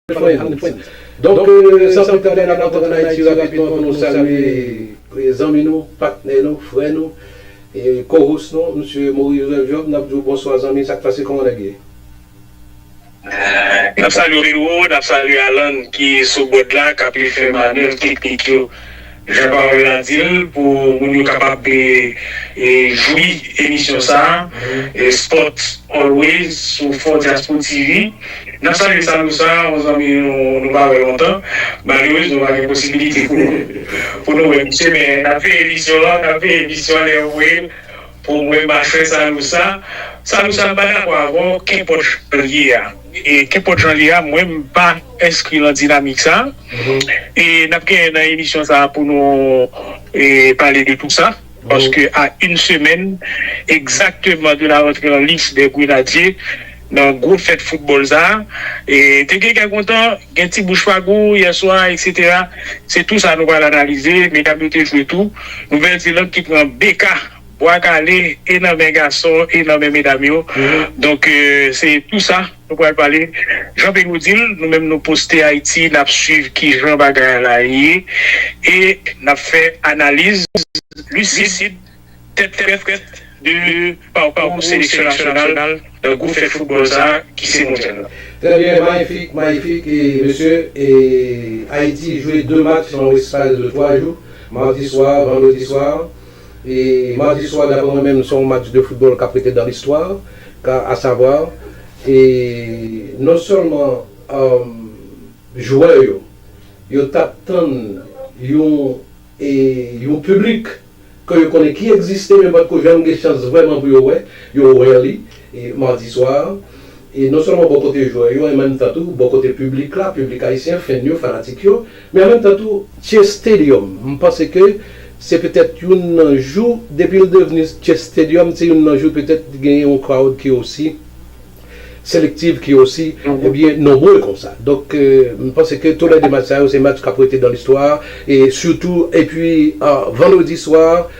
Donk san pli tande n ap antre an Ayiti rapidman pou nou salye zanmi nou, patnè nou, frè nou, co-host nou, Msye Maurice Joseph Job. N ap di w bonswa zanmi, sa k pase, kòman nèg ye? N ap salye w Pedro, n ap salye Alan ki sou board la k ap li fè manèv teknik yo. Jan pawòl la di l, pou moun yo kapab jwi emisyon sa a, Sport Always sou 4Diaspo TV. N ap salye Sanou Sarr, yon zanmi nou pa wè lontan. Malerezman pa gen posibilite pou nou wè misye men n ap veye emisyon an, n ap veye emisyon an lè yo voye l pou mwen machwè Sanou Sarr. Sanou Sarr m pa dakò avè w, kenpòt jan l ye a. Kenpòt jan li ye a, mwen m pa enskri lan dinamik sa a. E n ap gen nan emisyon sa a pou nou pale de tou sa. Paske a yn semèn egzakteman de la rantre an lis dè Grenadye nan gwo fèt foutbòl sa a, te gen kè kontan, gen ti bouch pa gou yè swa eksetera. Se tou sa nou pral analize. Medam yo te jwe tou. Nouvèl Zeland ki pran BK. Bwa kale e nan men gason e nan men medam yo donk se tou sa nou pral pale jan pe nou dil nou menm nou poste ayiti nap swiv kijan bagay la ye e nap fè analiz lisid tèt frèt de pakou seleksyon nasyonal nan gwo fèt foutbòl sa ki se mondyal la. Trè byen mayifik mayifik mesye e ayiti jwe 2 match nan w eskal de 3 jou mardi soir vendredi soir E madi swa daprè mwen menm son match de football kap rete dans l'histoire car à savoir e non sèlman jwè yo yo tap tann yon e yon public ke yo konnen ki egziste men patko janm gen chans vrèman pou yo wè yo rarely Mardi swa, e non sèlman bò kote jwè yo en menm tan tou bò kote piblik la, piblik ayisyen, fèn yo, fanatik yo, men an menm tan tou Chase Stadium, m panse ke se petèt youn nan jou depi l devni Chase Stadium se youn nan jou petèt li genyen yon crowd ki osi selective, ki osi ebyen nonbre konsa. Donk m panse ke tou lè 2 match sa yo se match k ap rete dans l'histoire e sitou epi Vendredi swa.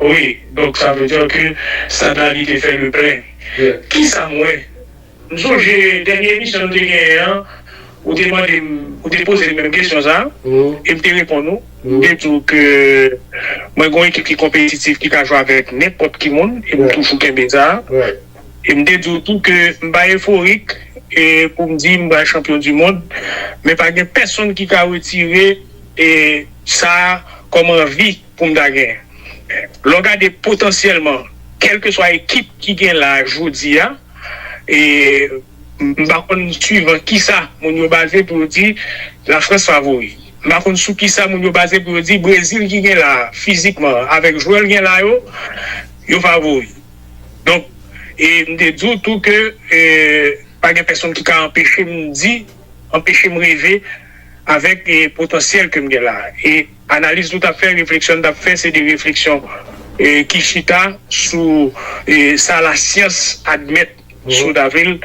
Wi donk sa vle dire ke Sada li te fè le plein kisam wè m sonje dènye emisyon nou te genyen an ou te mandem ou te pozem menm kesyon sa em te reponn ou m te diw ke mwen gon ekip ki konpetitif ki ka jwe avèk nenpòt ki moun em toujou kenbe sa em te diw tou ke m pa eforik poum di m pral chanpyon du mond men pa gen pèsonn ki ka retire sa kòm anvi. pou m ta gen. Lè w gade potansyèlman, kèlkeswa ekip ki gen la a jodi a, e m pa konn suivan kisa moun yo baze pou yo di Lafrans favori. M pa konn sou kisa moun yo baze pou yo di Brezil ki gen la a fizikman, avèk jwè l gen la yo, yo favori. Donk, e m te di w tou ke pa gen pèsonn ki ka anpeche m di, anpeche m reve avèk potansyèl ke m gen la a. E. Analiz nou t ap fè, refleksyon n t ap fè se de refleksyon ki chita sou sa lasyans admèt sou Davril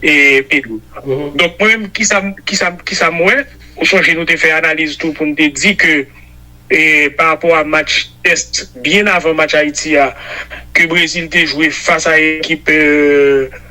e Pedro. Donk mwen menm ki sa m wè, ou sonje nou te fè analiz tou pou n te di ke pa rapò a match tèst byen avan match Ayiti a ke Brezil te jwe fas a ekip.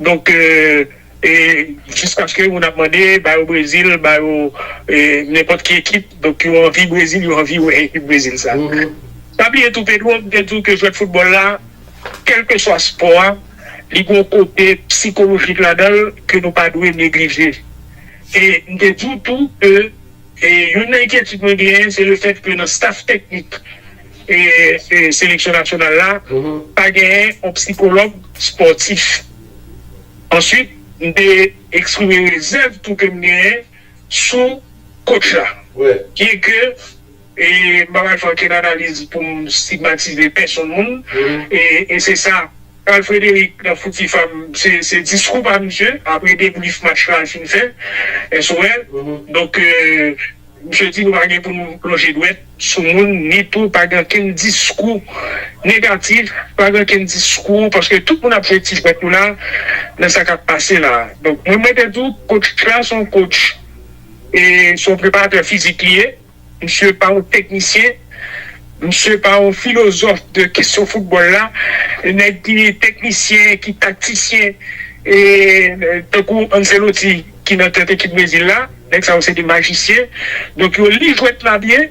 Donk jiskaske moun ap mande ba yo Brezil, ba yo nenpòt ki ekip, donk yo anvi Brezil, yo anvi wè ekip Brezil sa. Pa bliye tou Pedro, m te di w ke jwèt foutbòl la, kèlkeswa spò a, li gen yon kote psikolojik ladan l ke nou pa dwe neglije. E m te di w tou ke. Youn nan enkyetid mwen genyen se le fèt ke nan staf teknik seleksyon nasyonal la pa genyen yon psikològ spòtif. Answit m te eksprime rezèv tou ke m genyen sou kotch la. Byen ke m pa pral fè okenn analiz pou m stigmatize pèsonn moun e se sa Carl Frederick nan fouti fam se diskou pa misye apre debrief match la fin fè SOL donk misye di nou pa gen pou nou lonje dwèt sou moun ni tou pa gen ankenn diskou negatif pa gen ankenn diskou paske tout moun ap jwe ti jwèt yo la nan sa kap pase la donk mwen mwen te di w coach la son coach e son preparatè fizik li ye. Misye pa yon teknisyen, misye pa yon filozòf de kesyon foutbòl la, nèg ki teknisyen, ki taktisyen tankou Ancelotti ki nan tèt ekip Brezil la, nèg sa yo se de majisyen, donk yo li jwèt la byen,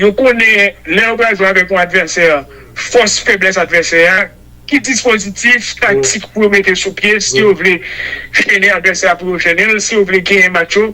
yo konnen lè yo pral jwe avèk yon advèsè, fòs, feblès advèsè a, ki dispozitif taktik pou yo mete sou pye si yo vle jennen advèsè a pou yo jennen l, si yo vle genyen match yo.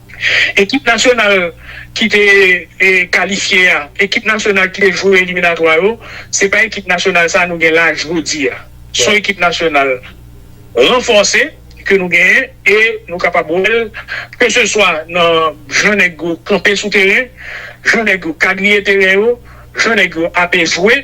Ekip nasyonal ki te kalifye a, ekip nasyonal ki te jwe eliminatwa yo, se pa ekip nasyonal sa a nou gen la jodi a. Se yon ekip nasyonal ranfòse ke nou genyen e nou kapab wè l ke se swa nan jan nèg yo kanpe sou teren, jan nèg yo kadriye teren yo, jan nèg yo ape jwe.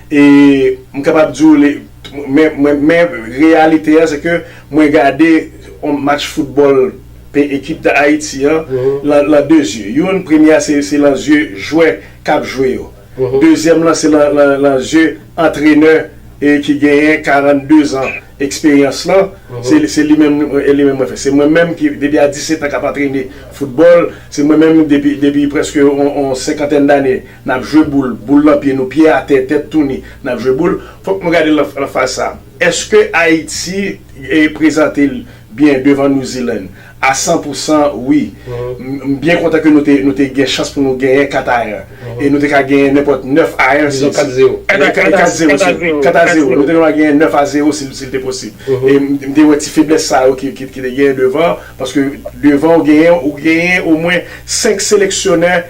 E m kapab di w li men men men reyalite a se ke mwen gade yon match foutbòl pe ekip Dayiti an lan lan de zye. Youn premye a se se lan zye jwè k ap jwe yo. Dezyèm lan se lan lan lan zye antrenè e ki genyen 42 zan eksperyans lan. Se se li menm e li menm mwen fè. Se mwen menm ki depi a 17 an k ap antrene foutbòl. Se mwen menm depi depi prèske yon yon senkantèn dane. N ap jwe boul, boul nan pye nou, pye atè, tèt tou ni, n ap jwe boul. Fòk nou gade l nan faz sa a. Èske Ayiti prezante l byen devan New Zealand? A san pou san, wi. M byen kontan ke nou te gen chans pou nou genyen 4 a 1. E nou te ka genyen nenpòt 9 a 1 si. Dizon 4 a 0. 4 a 0. 4 a 0. Nou te ka genyen 9 a 0 si l te posib. E m te wè ti feblès sa yo ki te genyen devan. Paske devan ou genyen omwen 5 seleksyonè.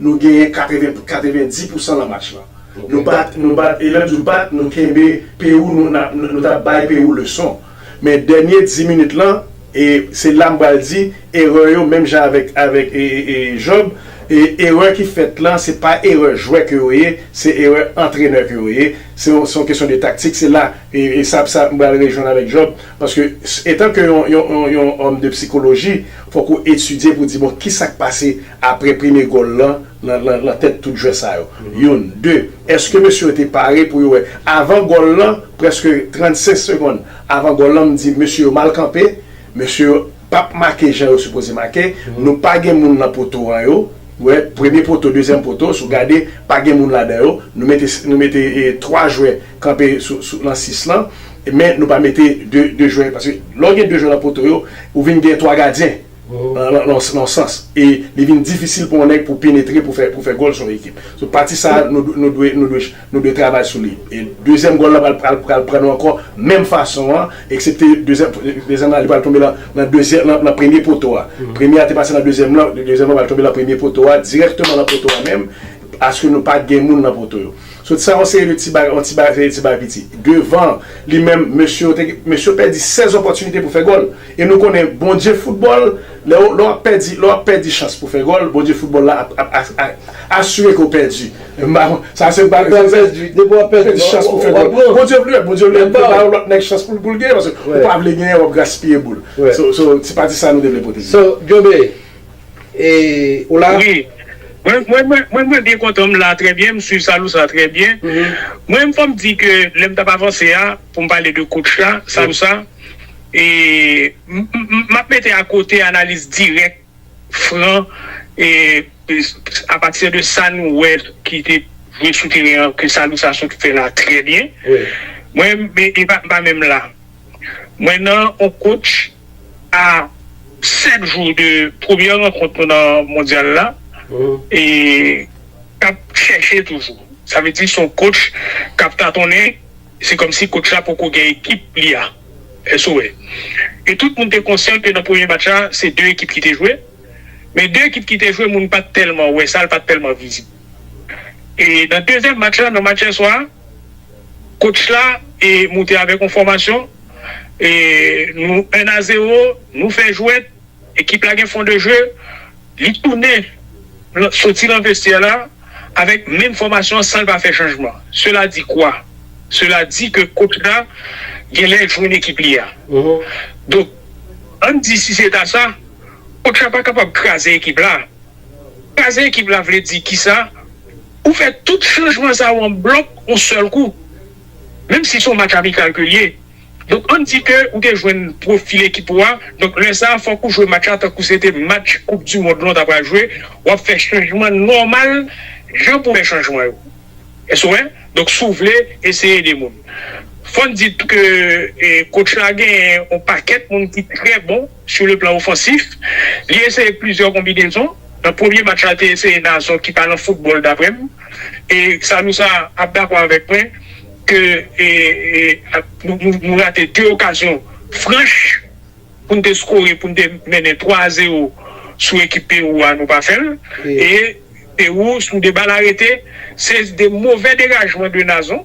Nou genyen 90 pousan lan match lan. Nou bat, nou bat e lè m di w bat, nou kenbe Pewou, nou t ap bay Pewou leson. Men dènye 10 minit lan, e se la m pral di erè yo menm jan avèk Job, erè ki fèt lan se pa erè jwè ke yo ye, se erè antrenè ke yo ye. Se yon kesyon de taktik, se la e sa m pral rejwenn avèk Job paske etan ke yon òm de psikoloji, Fòk ou etidye pou di bon kisa k pase apre premye gòl lan nan tèt tout jwè sa yo. Youn. De, èske mesye yo te pare pou yo wè avan gòl lan, prèske 35 segonn avan gòl lan m di mesye yo mal kanpe, mesye yo p ap make jan yo sipoze make, nou pa gen moun nan poto an yo wè premye poto, dezyèm poto si w gade pa gen moun ladan yo, nou mete 3 jwè kanpe nan 6 lan. Men nou pa mete 2 jwè paske lè w gen 2 jwè nan poto yo ou vin gen 3 gadyen nan yon sans e li vin difisil pou yon nèg pou penetre pou fè gòl sou yon ekip. So pati sa a nou dwe travay sou li. E dezyèm gòl lan pral pran nou ankò menm fason an eksepte dezyèm lan li pral tonbe nan premye poto a. Premye a te pase nan dezyèm lan, dezyèm lan pral tonbe nan premye poto a dirèkteman nan poto a menm aske nou pa gen moun nan poto yo. Sot sa yon seri de ti bagay, yon ti bagay veye ti bagay piti. Devan li menm mesye yo te gen, mesye yo pèdi 16 opòtinite pou fè gòl. E nou konnen Bondye foutbòl, lè ou, lè wap pèdi, lè wap pèdi chans pou fè gòl, Bondye foutbòl la ap, ap a, asire ke w pèdi. M pa kon, sa se pa Depi wap pèdi, depi wap pèdi, pèdi chans pou fè gòl. Wap pran. Bondye vle, Bondye vle, vle ba yon lòt nèg chans pou l, pou l gen, paske ou pa vle genyen wap gaspiye boul. So, so ti pati sa nou te vle pote. So, Jobe, Eee ou la? Wi Mwen mwen mwen mwen mwen byen kontan m la trè byen m swiv salou sa trè byen mwen fòm di ke lèm tap avanse a poum pale de coach la salou sa eee m map mete a kote analiz dirèk fran eee a pati de sa nou wè ki te jwe sou teren an ke salou sa sot fè la trè byen mwen m pa menm la. Mwen nan on coach a 7 jou de premyè rankont nou nan mondyal la e k ap chèche toujou. Sa vle di se on coach k ap tatonnen, se kòmsi coach la poko gen ekip li a. Èske ou wè? E tout moun te konsyan ke nan premye match la se 2 ekip ki te jwe, men 2 ekip ki te jwe moun pa t tèlman wè sa, l pa t tèlman vizib. E nan dezyèm match la, nan match yèswa a, Coach la e moute avèk yon fòmasyon e nou 1 a 0 nou fè jwèt ekip la gen fon de jeu li tounen soti lan vestyè la avèk menm fòmasyon an sanl pa fè chanjman sela di kwa? Sela di ke coach la genlè jwenn ekip li a donk ann di si se ta sa coach la pa kapab kraze ekip la. Kraze ekip la vle di kisa? Ou fè tout chanjman sa yo an blòk yon sèl kou. Menm si se yon match amikal ke li ye. Donk ann di ke ou te jwenn pwofil ekip ou a, donk lè sa fòk ou jwe match la tankou se te match koup di mond lan ou ta pral jwe, wap fè chanjman nòmal jan pou fè chanjman yo. Èske ou wè? Donk si w vle eseye de moun. Fòn di tou ke kotch la genyen yon pakèt moun ki trè bon. Sou le plan ofansif, li eseye plizyè konbinezon. Nan premye match la, l te eseye nan zòn ki pa nan foutbòl daprè m. E Sanou sa ap dakò avèk mwen ke nou rate 2 okazyon franch pou n te skore, pou n te mennen 3 a 0 sou ekip Pewou a, nou pa fè l. E Pewou sou 2 bal arete, se 2 movè degajman de Nazon.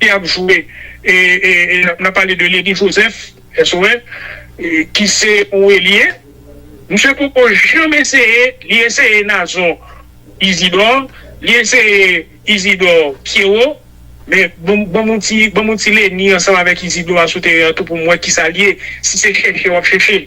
ki ap jwe e nan pale de Leni Joseph, SOS, ki se yon elye. Misye poko janm eseye, li eseye Nazon Isidor, li eseye Isidor Pierrot, men ban m yon ti Leni ansanm avèk Isidor a sou teren an tou pou m wè kisa li ye, si se chèche w ap chèche.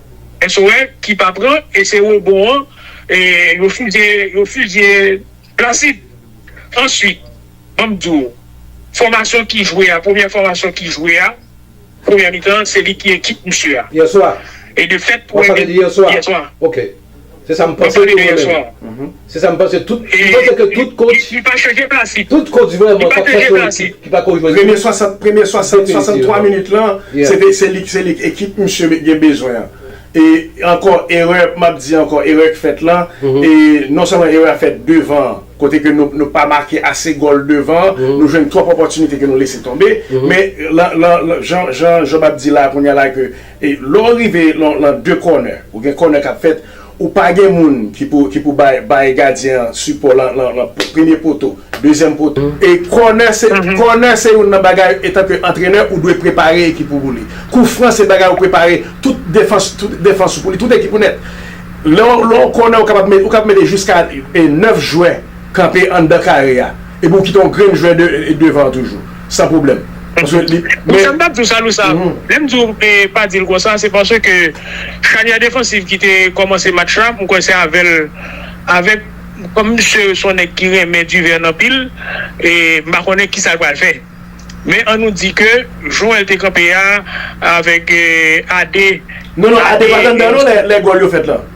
SOS ki pa pran e se robot an yo fizye yo fizye Placide answit banm di w fòmasyon ki jwe a premyè fòmasyon ki jwe a premyè mitan se li ki ekip misye a Yèswa e de fèt wap pale de yèswa yèswa. Se sa m panse tou mwen menm. Se sa m panse tout kotch. Li pa chanje plas li. Tout kotch vreman k ap fè sou yon ekip ki pa ko jwenn. Premye 60, premye 60, 63 minit lan, se te, se li, se li ekip misye gen bezwen an. E ankò erè, m ap di ankò erè k fèt lan, e non sèlman erè a fèt devan an, kote ke nou, nou pa make ase gòl devan an, nou jwenn twòp opòtinite ke nou lese tonbe. Men lan, lan, lan, jan, jan Job ap di la kounya la ke. E lè w rive lan de kònè, ou gen kònè k ap fèt, ou pa gen moun ki pou bay gadyen an sipò lan premye poto, dezyèm poto. E kònè se, kònè se youn nan bagay etanke antrenè ou dwe prepare ekip ou pou li. Kou fran se bagay ou prepare tout defans, tout defans ou pou li, tout ekip ou nèt. Lè yon kònè ou kapab, ou kapab mete jiska 9 jwè kanpe anndan kare a, epi ou kite yon grenn jwè devan toujou. San pwoblèm. Paske li. Bon sa m t ap di w Salou sa, lè m di w pa di l konsa se paske chanyè defansiv ki te kòmanse match la m kwè se avè l avèk kòm misye s on nèg ki renmen Duverne anpil e m pa konnen kisa l pral fè. Men an nou di ke jwè l te kanpe a avèk Ade. Non non Ade pat anndan non lè gòl yo fèt lan.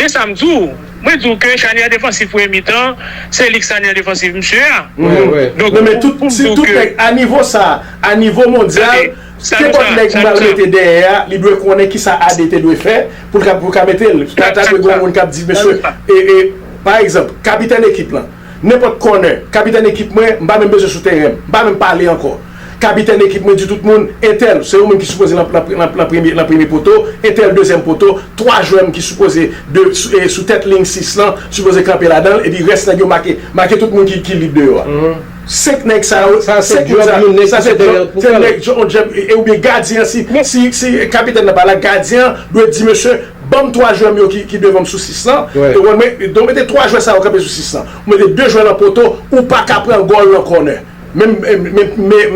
Men sa m di w, mwen di w ke chanyè defansif premye mitan an, se li ki chanyè defansif msye a. Non men tout nèg a nivo sa, a nivo mondyal, kenpòt nèg m pral mete dèyè a, li dwe konnen kisa AD te dwe fè pou l ka mete l. Ta dwe gen yon moun k ap di mesye, pa egzanp, kapitèn ekip lan. Nenpòt kònè, kapitèn ekip mwen, m pa menm bezwen sou teren, m pa menm pale ankò. Kapitèn ekip mwen di tout moun, entèl, se ou menm ki sipoze lan premye poto, entèl dezyèm poto, twa jwè m ki sipoze sou tèt liy sis lan, sipoze kanpe ladan l, epi rès nèg yo make, make tout moun ki lib deyò a. Senk nèg sa yo, senk moun sa yo, sa se djòb, se nèg, yon djòb, oubyen gadyen an, si kapitèn nan pa la, gadyen an dwe di mesye, Banm 3 jwè m yo ki devan m sou 6 lan, e wè mwen donk mete 3 jwè sa yo kanpe sou 6 lan. Ou mete 2 jwè nan poto, ou pa ka pran gòl nan kònè. Menm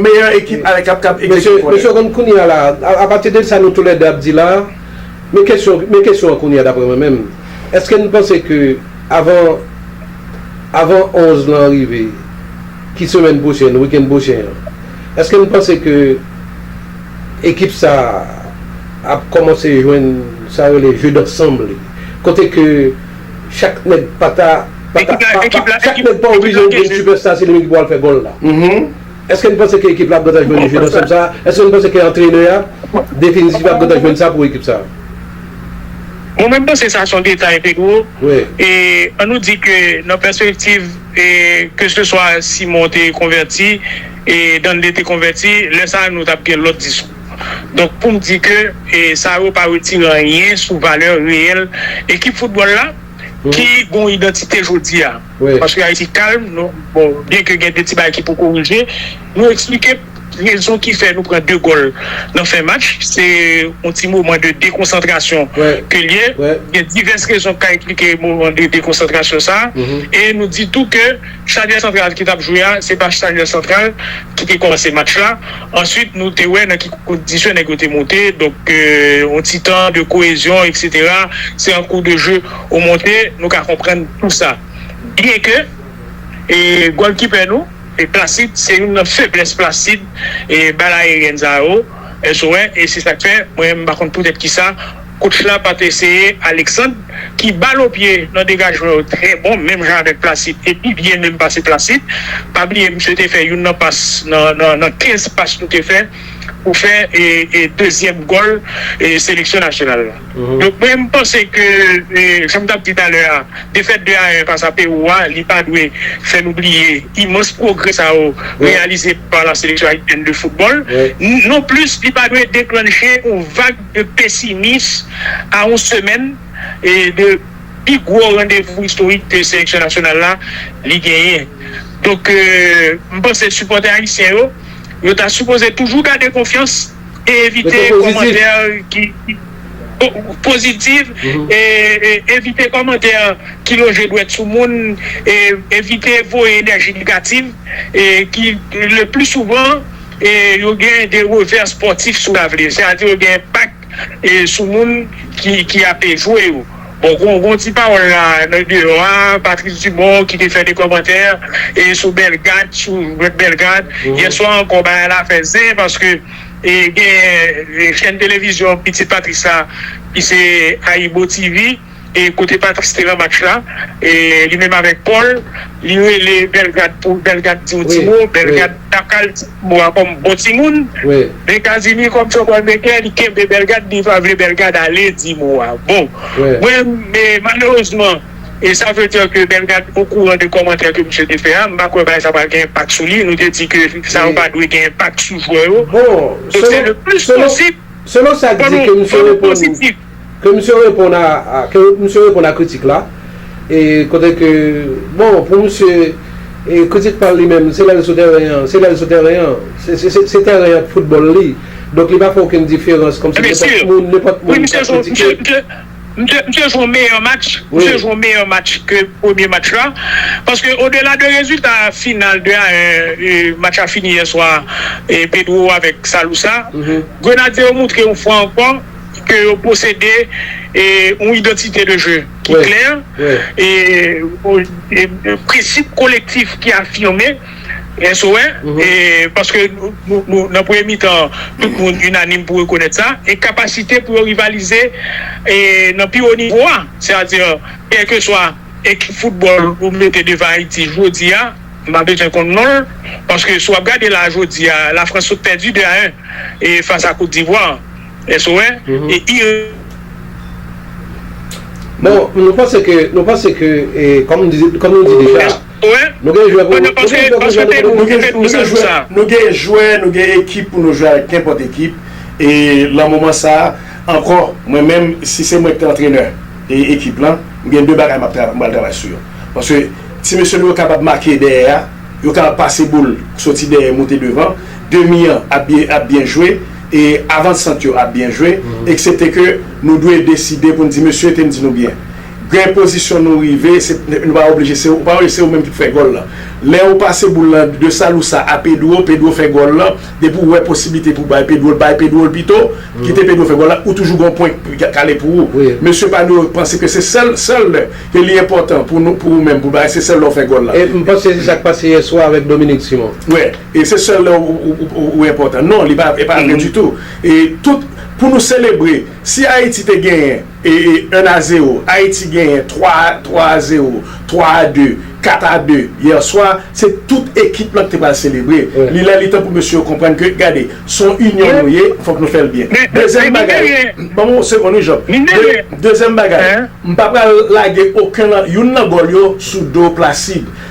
meyè ekip a kap kap egzekite kònè. Mesye konn kounye a la, apati de sa nou tou lè 2 ap di la, men kesyon men kesyon an kounye a daprè mwen menm. Eske n panse ke avan avan 11 lan rive, ki semèn pwochèn, wikenn pwochen an, eske n panse ke. Ekip sa ap kòmanse jwenn sa rele jeu d'ensemble li, kote ke chak nèg pa ta chak nèg pa oblije vin sipèsta se li menm ki pou al fè gòl la. Èske n panse ke ekip la ap gentan jwenn jeu d'ensemble sa? Èske n panse ke antrenè a definitivman ap gentan jwenn sa pou ekip sa? Mwen menm m panse sa se yon detay Pedro, e an nou di ke nan pèspektiv keseswa Simon te konvèti, E Danley te konvèti, lè sa nou tap gen lòt diskou. Donk poum di ke sa yo pa retire anyen sou valè reyèl ekip foutbòl la ki gon idantite jodia. Paske Ayiti kalm, bon byen ke gen 2 ti bagay ki pou korije, nou eksplike rezon ki fè nou pran 2 gòl nan fen match, se yon ti moman de dekonsantrasyon ke l ye. Gen divès rezon ki ka eksplike moman de dekonsantrasyon sa e nou di tou ke. Charniè santral ki tap jwe a se pa charniè santral ki te kòmanse match la answit nou te wè nan ki kondisyon nèg yo te moute donk yon ti tan de koezyon etc se an kou de jeu ou monte nou ka konprann tou sa byen ke gòlkipè nou Placide se youn nan feblès Placide bal aeryèn sa yo èske ou wè e se sak fè mwen menm m pa konn poutèt kisa Coach la pat eseye Alexandre ki bal o pye nan degajman yo trè bon menm jan avèk Placide e pi byen menm pase Placide. Pa bliye misye te fè youn nan pas nan 15 pas nou te fè pou fè dezyèm gòl seleksyon nasyonal la. Donk mwen m panse ke janm tap di talè a defèt 2 a 1 fas a Pewou a li pa dwe fè nou bliye imans pwogrè sa yo reyalize pa la seleksyon ayisyèn de foutbòl non plis li pa dwe deklannche yon vag de pesimis a yon semèn de pi gwo randevou istorik ke seleksyon nasyonal la li genyen. Donk m panse sipòtè ayisyen yo, yo ta sipoze toujou gade konfyans e evite kòmantè ki pozitiv, evite kòmantè ki lonje dwèt sou moun, evite voye enèji negativ ki le pli souvan. E yo gen de revè spòtif sou lavni. Se a di yo gen enpak sou moun ki ape jwe yo. Bon gon gon ti pawòl la nan deyò a, Patrice Dumont ki te fè de kòmantè sou Bellegarde sou Rep Bellegarde yè swa ankò bagay la fè zen paske gen chèn televizyon pitit Patrice la ki se Ayibo TV. E kote Patrice te nan match la e li menm avèk Paul li rele Bellegarde pou Bellegarde di yon ti mo Bellegarde pa ka al di ti mo a kòm bon timoun men Casimir kòm son bòl metè li kenbe Bellegarde li pa vle Bellegarde ale di mo a bon mwen malerezman e sa vle dè ke Bellegarde o kouran de kòmantè ke misye te fè a m pa kwè bagay sa pral gen enpak sou li nou te di ke sa yo pa dwe gen enpak sou jwè yo bon se le plis posib fò nou pozitif. Ke misye reponn a ke misye reponn a kritik la e kote ke bon pou misye e kritik pa l li menm se lè l sou tèren an se lè l sou tèren an se se se se tèren ak foutbòl li donk li pa fè okenn diferans kòmsi Enben si nenpòt moun nenpòt wi moun misye ka jwe misye kritike misye misye misye jwe yon meyè match misye wi jwe yon meyè match ke premye match la paske odela de rezilta final 2 a 1 e match la fini yèswa e Pedro avèk Salusa Grenadye yo moutre yon fwa ankò ke yo posede yon identite de jeu ki klè, prensip kolektif ki afime, SOE, paske nan premye mitan an, tout moun inanim pou rekonèt sa, e kapasite pou yo rivalize nan pi wo nivo a, sètadi kèlkeswa ekip foutbòl ou mete devan Ayiti jodi a, m pa bezwen konn non l, paske si w ap gade la jodi a, Lafrans sot pèdi 2 a 1 fas a Kot Divwa. Èske ou wè? E i. Bon, nou panse ke, nou panse ke, e, kòm nou di, kòm nou di deja, Èske ou wè? nou gen jwè pou, nou gen jwè pou jwè nou, nou gen, nou gen jwè, nou gen jwè, nou gen ekip pou nou jwè avèk nenpòt ekip, e lan moman sa a, ankò, mwen menm, si se mwen ki te antrenè e ekip lan, m gen de bagay m ap tra, m pral travay sou yo. Paske ti mesye nou yo kapab make dèyè a, yo kapab pase boul soti dèyè moute devan, demi an ap byen, ap byen jwe, E avansant yo ap byen jwe, eksepte ke nou dwe deside pou n di mesye te n di nou byen. Gen pozisyon nou rive, se nou pa oblije se ou pa oblije se ou menm ki pou fè gòl lan. Lè ou pase boul lan de Salousa a Pedro, Pedro fè gòl lan, depi ou wè posiblite pou bay Pedro l, bay Pedro l pito, kite Pedro fè gòl lan, ou toujou gen yon pwen ki kale pou ou. Mesye pa nou yo panse ke se sèl, sèl lè ke li enpòtan pou nou, pou ou menm pou bay, se sèl lè ou fè gòl lan. E m panse se sa k pase yèswa avèk Dominique Simon. E se sèl lè ou enpòtan. Non, li pa vre ditou. E tout, pou nou selebre, si Ayiti te genyen 1 a 0, Ayiti genyen 3 a 0, 3 a 2, 4 a 2, yèswa, se tout ekip lan ki te pral selebre. Li lè li tan pou mesye yo konprann ke, gade, se yon inyon nou ye, fòk nou fè l byen. Dezyèm bagay, ban mwen yon segonn wi Job. Dezyèm bagay, m pa pral lage oken nan, youn nan gòl yo sou do Placide.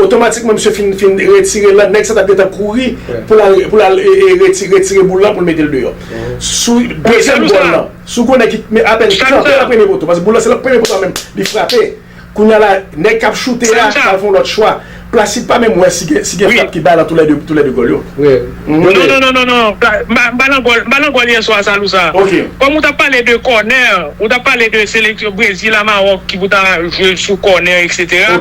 Otomatikman misye fin fin retire lan, nèg sa tap gentan kouri pou lal pou lal reti retire boul lan poul metel deyò. Sou dezyèm gòl lan, sou gwo nèg ki men apèn kanpe nan premye poto, paske boul lan se lan premye poto a menm li frape. Kounya la nèg kap choute a pral fon lòt chwa. Placide pa menm wè si gen si gen frap ki bay lan tou lè 2 tou lè 2 gòl yo. Non non non non non Balangòl yè swa sa Lousa Kòm ou tap pale de kònè ou tap pale de seleksyon Brezil a Mawòk ki pou ta jwe sou kònè etc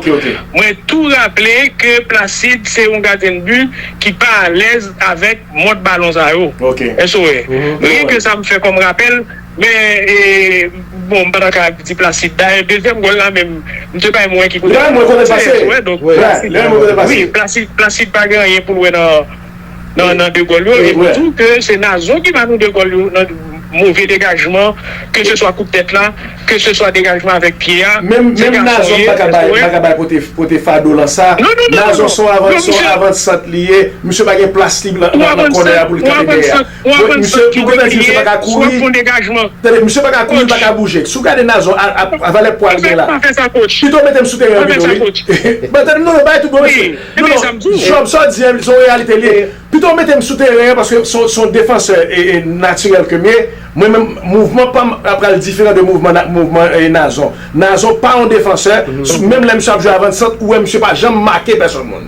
mwen tou raple ke Placide se yon gadyen de but ki pa alèz avèk mòd balon sa yo Èske ou wè Rien ke sa m fè kòm rapèl Men bon m pa ta ka di Placide. Dayè dezyèm gòl la menm m te bay mwen ki kote Lè mwen konnen pase. Lè mwen konnen pase. Wi Placide Placide pa gen anyen pou l wè nan nan 2 gòl yo e m di w ke se Nazon ki ba nou 2 gòl yo nan move degajman ke se swa kout tèt la ke se swa degajman avèk pye a Menm menm Nazon pa ka bay pa ka bay pote pote fado lan sa. Non non non non non Nazon son avan son avan sant li ye. Misye pa gen plas li nan nan kònè a pou l kanpe dèyè a. Bon misye pou kèk mesye misye paka kouri Tande misye paka kouri paka bouje Si w gade Nazon a valè pwa li gen la Pito mete m sou teren an pito wi Bon tande non non bagay tout bon mesye Non non Job sa w di an se yon reyalite li ye Pito w mete m sou teren an paske se yon defansè natirèl ke m ye Mwen menm mouvman pa m ap pral diferan de mouvman Nazon Nazon pa yon defansè Menm lè misye ap jwe avan sant ou wè misye pa janm make pèsòn moun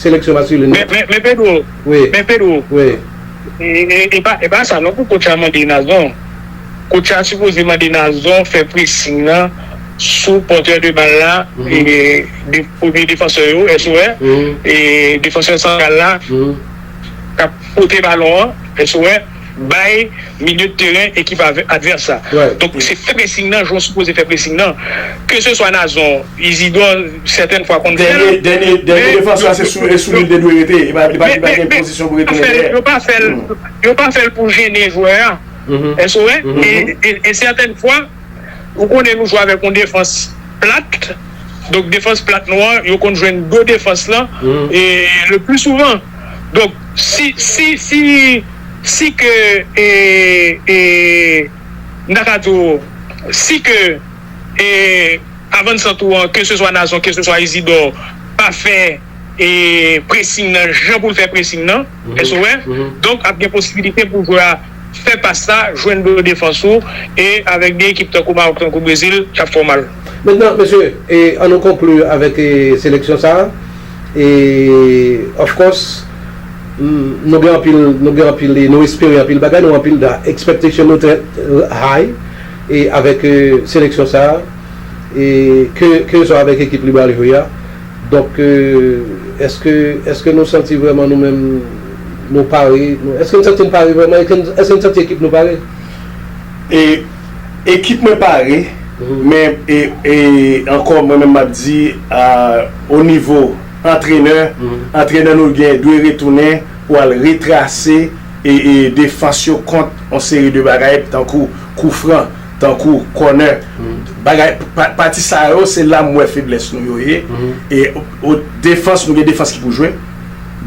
Seleksyon maskilen an. Men Pedro, men Pedro, e pa sa non pou coach la mande Nazon. Coach la sipoze mande Nazon fè pressing lan sou porteur de balle la, premye defansè yo, SOR, e defansè santral la kap pote balon an, SOR. bay milieu de terrain ekip advers la donk se fè pressing nan jan ou sipoze fè pressing nan ke se swa Nazon, Isidor sètèn fwa konn fèl men dènye defans la se sou li l te dwe rete li pa gen pozisyon pou retounen dèyè yo pa fèl pou jennen jwè a èske ou wè e sètèn fwa. Ou konnen nou jwe avèk yon defans plat, donk defans plat nou an yo konn jwenn do defans lan le pli souvan. Donk si si si si ke e e m ta ka di w si ke e avansant ou an ke se swa Nazon ke se swa Izidò pa fè e presing nan jan pou l fè presing nan, èske w wè? Donk ap gen posibilite pou jwè a. Fè pas la, jwenn bon defans ou e avèk 2 ekip tankou Maroc tankou Brezil kap fè w mal. Mentnan mesye an nou konklu avèk seleksyon sa e of course nou gen anpil nou gen anpil e nou espere anpil bagay nou anpil da expectation nou trè high e avèk seleksyon sa e ke ke swa avèk ekip Libreville a. Donk, èske, èske nou santi vrèman nou menm nou pare? Èske n santi n pare vrèman? Èske n santi ekip nou pare? E, ekip mwen pare, men e, e ankò mwen menm m ap di a o nivo antrenè, antrenè nou gen dwe retounen pou al retrase e, e defans yo kont yon seri de bagay tankou kou fran. Tankou kònè bagay pati sa yo se la m wè feblès nou yo ye e defans nou gen defans ki pou jwe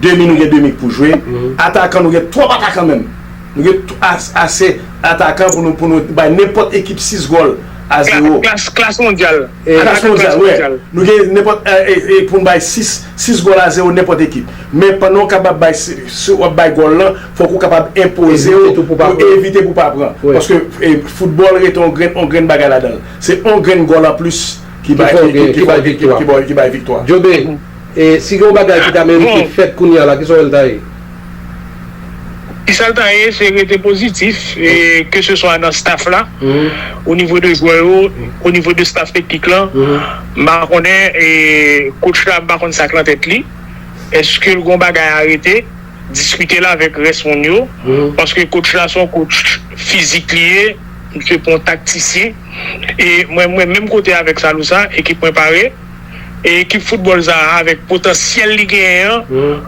demi nou gen demi ki pou jwe atakan nou gen twòp atakan menm nou gen ase atakan pou nou bay nenpòt ekip 6 gòl a zewo. Klas mondyal. Atak nan klas mondyal. Nou gen nenpòt pou n bay 6, 6 gòl a zewo nenpòt ekip. Men pandan w kapab bay si w ap bay gòl lan, fòk ou kapab enpoze w pou w evite pou w pa pran. Paske foutbòl rete yon grenn yon grenn bagay ladan l. Se yon grenn gòl anplis ki bay ki bay viktwa ki bay viktwa. Djobe, si gen yon bagay ki ta merite fèt kounye a la, ki sa w wè l ta ye? Kisa l ta ye se rete pozitif ke se swa nan staff la o nivo de jwè yo o nivo de staff teknik lan m pa konnen coach la m pa konn sak nan tèt li eske l gon bagay a rete diskite l avèk rès moun yo paske coach la son coach fizik li ye misye pon taktisyen e mwen mwen menm kote avèk Salou sa ekip mwen pare e ekip foutbòl sa avèk potansyèl li genyen an.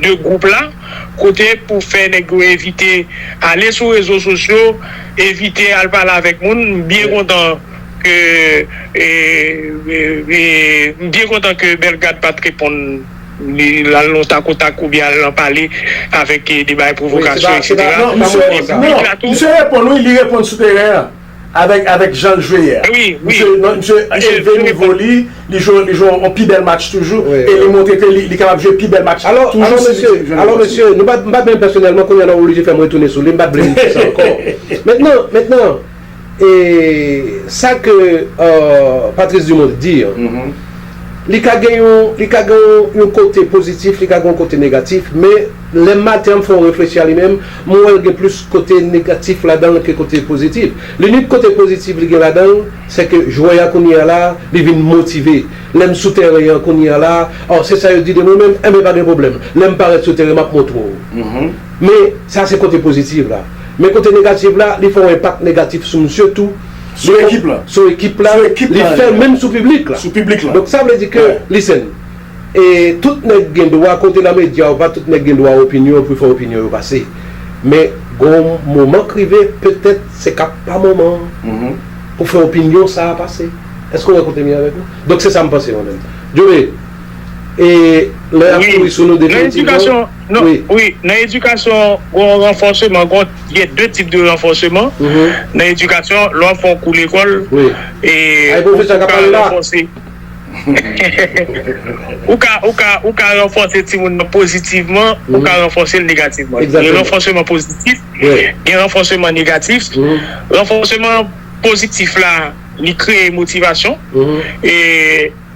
2 gwoup la, kote pou fè nèg yo evite ale sou rezo sosyo, evite al pale avèk moun, m byen kontan ke m byen kontan ke Bellegarde pat reponn li al nan tak o tak oubyen al nan pale avèk de bagay pwovokasyon eksetera, e piblik la tou. Misye reponn wi, li reponn sou teren an. Avèk avèk jan l jwe yè a. Wi wi. Misye non misye elve nivo li, li jwe li jwe yon pi bèl match toujou e li montre ke li li kapab jwe pi bèl match Alò alò mesye alò mesye nou pa m pa byen pèsonèlman kounye a nan oblije fè m retounen sou li m pa t vle nou di sa ankò Mentnan mentnan e sa ke Patrice Dumont t di an li ka gen yon li ka gen yon kote pozitif li ka gen yon kote negatif men Lè maten an m fè yon reflechi a li menm, m wè l gen plis kote negatif ladan l ke kote pozitif. Linik kote pozitif li gen ladan l, sè ke jwè a kounye a la, li vin motive. Lè m sou tèren an kounye a la, oh se sa yo di de mwen menm, enben pa gen pwoblèm. Lè m parèt sou tèren m ap montre w. Men, sa se kote pozitif la. Men kote negatif la, li fè yon enpak negatif sou misye tou. Sou ekip la. Sou ekip la. Li fè menm sou piblik la. Sou piblik la. Donk sa vle di ke, listen, E tout nèg gen dwa kote nan medya ou pa tout nèg gen dwa opinyon pou fè opinyon yo pase men gon moman k rive petèt se ka pa moman an pou fè opinyon sa a pase èske ou wè kote m ye avèk ou donk se sa m panse mwen menm Jobe e lè y ap kouri sou nou definitivman wi nan edikasyon gon ranfòseman gon gen de tip de ranfòseman nan edikasyon lè w ap fè yon kou lekòl e ay pwofesè a ka pale la. Ou ka ranfòse timoun nan pozitivman, ou ka ranfòse l negativman. Gen ranfòseman pozitif, gen ranfòseman negatif. Ranfòseman pozitif la, li kreye motivasyon,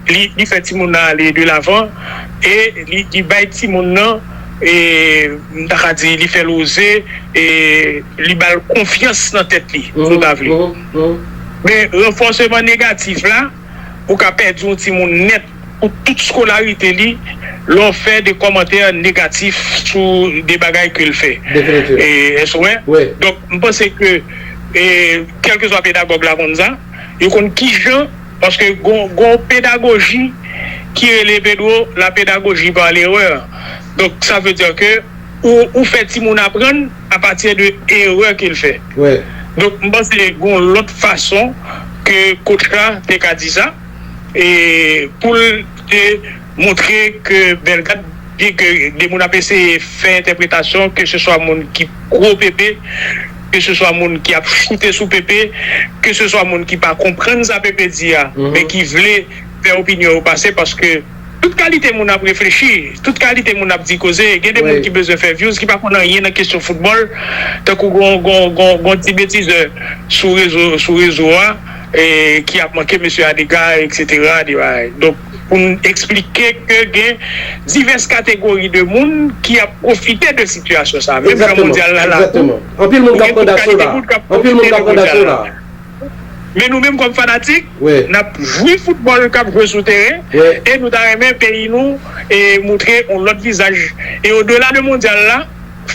li fè timoun nan ale de lavan e li bay timoun nan, m ta ka di, li fè l oze, li ba l konfyans nan tèt li, si w ta vle. Men, ranfòseman negatif la. Ou ka pèdi yon timoun nèt pou tout skolarite li lè w fè de kòmantè negatif sou de bagay ke l fè. Èske w wè? Donk, m panse ke kèlkeswa pedagòg la konn sa. Yo konn kijan, paske gen yon pedagoji ki rele Pedro la pédagogie par l'erreur. Donk, sa vle di ke ou fè timoun aprann. a pati de erè ke l fè. Donk m panse gon lòt fason ke coach la te ka di sa e pou l te montre ke Bellegarde byen ke de moun ap eseye fè entèpretasyon ke se swa moun ki pro Pepe, ke se swa moun ki ap choute sou Pepe, ke se swa moun ki pa konprann sa Pepe di a men ki vle fè opinyon yo pase paske. Tout kalite moun ap reflechi, tout kalite moun ap di koze, gen de moun ki bezwen fè vyouz ki pa konn anyen nan kesyon foutbòl, tankou gon ti betizè sou rezo sou rezo a ki ap manke mesye a dega eksetera de bagay donk pou n eksplike ke gen divès kategori de moun ki ap pwofite de sitiyasyon sa menm jan mondyal la la tou gen tout kalite moun k ap pwofite de mondyal la. men nou menm kòm fanatik nap jwi foutbòl kap jwe sou teren e nou ta renmen peyi nou moutre yon lòt vizaj e o dela de mondyal la